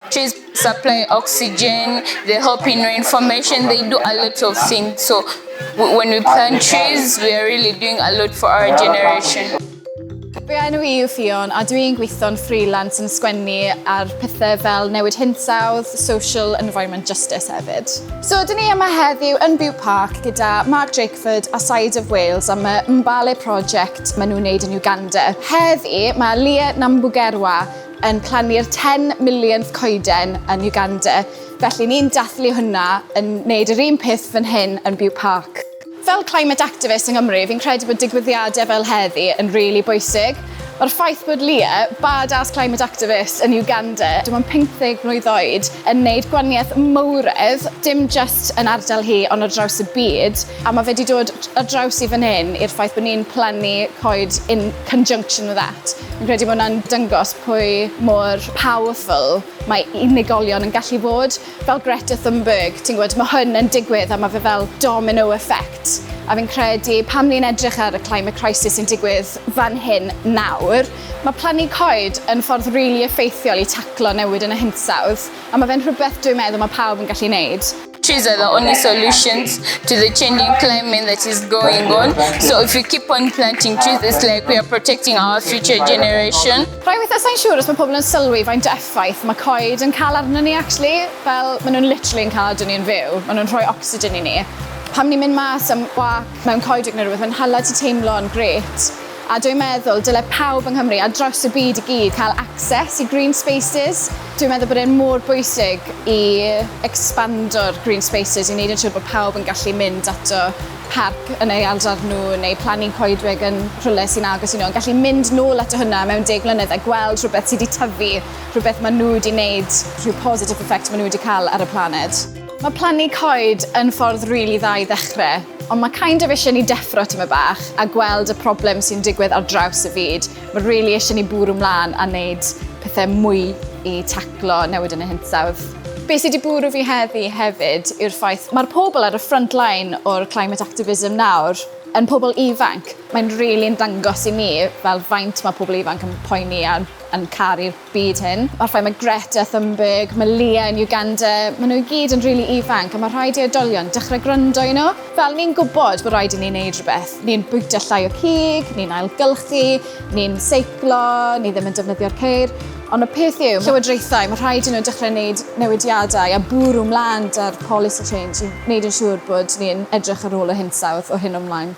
Trees supply oxygen, they help in reinformation, they do a lot of things. So when we plant trees, we are really doing a lot for our generation. Fy enw i yw Fion a dwi'n gweithio'n freelance yn sgwennu ar pethau fel newid hinsawdd, social and environment justice hefyd. So dyn ni yma heddiw yn Bew Park gyda Mark Drakeford a Side of Wales am y Mbale project maen nhw'n wneud yn Uganda. Heddi mae Leah Nambugerwa yn plannu'r 10 millionth coeden yn Uganda, felly ni'n dathlu hwnna yn wneud yr un peth fan hyn yn Bute Park. Fel climate activist yng Nghymru, fi'n credu bod digwyddiadau fel heddi yn rili bwysig. Mae'r ffaith bod Lia, bad-ass climate activist yn Uganda, dim ond 50 mlwydd oed, yn wneud gwaniaeth mowredd, dim jyst yn ardal hi ond ar draws y byd, a mae fe wedi dod ar draws i fan hyn i'r ffaith bod ni'n plannu coed un conjunction with that. Fi'n credu bod hwnna'n dyngos pwy mor powerful mae unigolion yn gallu bod. Fel Greta Thunberg, ti'n gwybod, mae hwn yn digwydd a mae fe fel domino effect. A fi'n credu pan ni'n edrych ar y climate crisis sy'n digwydd fan hyn nawr, mae plannu coed yn ffordd rili really effeithiol i taclo newid yn y hinsawdd, a mae fe'n rhywbeth dwi'n meddwl mae pawb yn gallu wneud. Trees are the only solutions to the changing climate that is going on. So if we keep on planting trees, it's like we are protecting our future generation. Rhaid weithio sa'n siŵr os mae pobl yn sylwi faint o effaith mae coed yn cael arnyn ni, actually. Fel, maen nhw'n literally yn cael adwn ni'n fyw. Maen nhw'n rhoi oxygen i ni. Pam ni'n mynd mas am wac mewn coed neu rhywbeth, mae'n hala ti teimlo'n gret. A dwi'n meddwl dyle pawb yng Nghymru a draws y byd i gyd cael access i green spaces. Dwi'n meddwl bod e'n mor bwysig i expando'r green spaces i wneud yn siŵr bod pawb yn gallu mynd ato parc yn ei ardal nhw neu plannu coedwig yn rhywle sy'n agos i nhw, yn gallu mynd nôl ato hynna mewn deg mlynedd a gweld rhywbeth sydd wedi tyfu, rhywbeth maen nhw wedi wneud, rhyw positive effect maen nhw wedi cael ar y planed. Mae plannu coed yn ffordd rili dda i ddechrau, ond mae kind of eisiau ni deffro tyma bach a gweld y problem sy'n digwydd ar draws y fyd. Mae rili eisiau ni bwrw mlaen a wneud pethau mwy i taclo newid yn y hinsawdd. Be sydd wedi bwrw fi heddi hefyd yw'r ffaith mae'r pobl ar y front line o'r climate activism nawr yn pobl ifanc. Mae'n rili'n dangos i mi fel faint mae pobl ifanc yn poeni a yn caru'r byd hyn. Mae'r ffaith mae Greta Thunberg, mae Leah yn Uganda, maen nhw i gyd yn rili really ifanc a mae rhaid i oedolion dechrau gwrando i nhw. Fel ni'n gwybod bod rhaid i ni wneud rhywbeth, ni'n bwyta llai o cig, ni'n ailgylchu, ni'n seiclo, ni ddim yn defnyddio'r ceir, ond y peth yw, llywodraethau, mae rhaid i nhw dechrau wneud newidiadau a bwrw mlaen da'r policy change i wneud yn siŵr bod ni'n edrych ar ôl y hinsawdd o hyn o'mlaen.